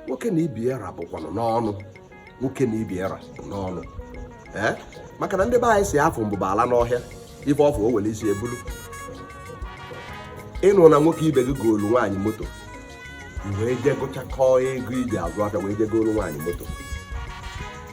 nwoke na ibe ya ra bụkwanụ n'ọnụ nwoke na ibe ya ra bụ n'ọnụ ee maka na ndị be anyị sị afọ mbụ baala n'ọhịa ife ọ fụ o were isi ebulu ị nụ na nwoke ibe gị goolu nwaanyị moto wee jee gụchakọọ ego i ji azụ afịa wee jee goolu nwaanyị moto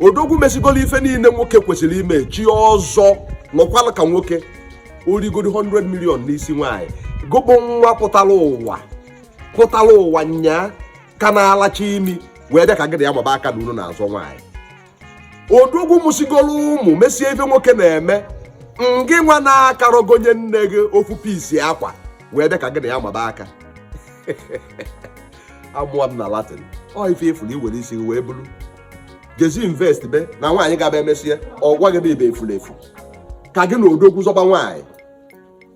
odogwu mesigoro ife niile nwoke kwesịrị ime chie ọzọ nọkwala ka nwoke o rigoro 100 million n'isi nwaanyị gị bụ nwa pụtara ụwa pụtara ụwa nyaa ka na-alacha imi wee bịa ka gị na ya maba aka na unu na-azọ nwaanyị odogwu mụsigoro ụmụ mesie ife nwoke na-eme ngị nwa na-akarọ gonye nne gị ofu piece akwa wee bịa ka gị na ya maba aka amụọ m na latin ọ ife ị fụrụ i were isi wee bulu jezi invest be na nwaanyị ga-abụ e mesie ọ gwa gị na ị bụ efulefu ka gị na odogwu zọba nwaanyị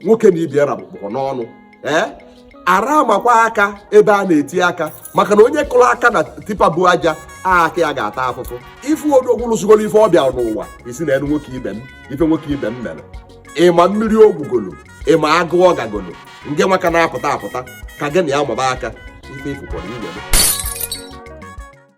nwoke na ibe ya ra bụkwa n'ọnụ ee ara amakwa aka ebe a na-eti aka maka na onye kụrụ aka na tipper bu aja aka ya ga-ata afụfụ ị fụ odogwu lụsigoro ife ọ bịa n'ụwa ị sị na enu nwoke ibe m ife nwoke ibe m mere ị ma mmiri o gwugolo ị ma agụ ọ gagolo ngị nwa ka na-apụta apụta ka gị na ya maba aka ife ị fụkwara i we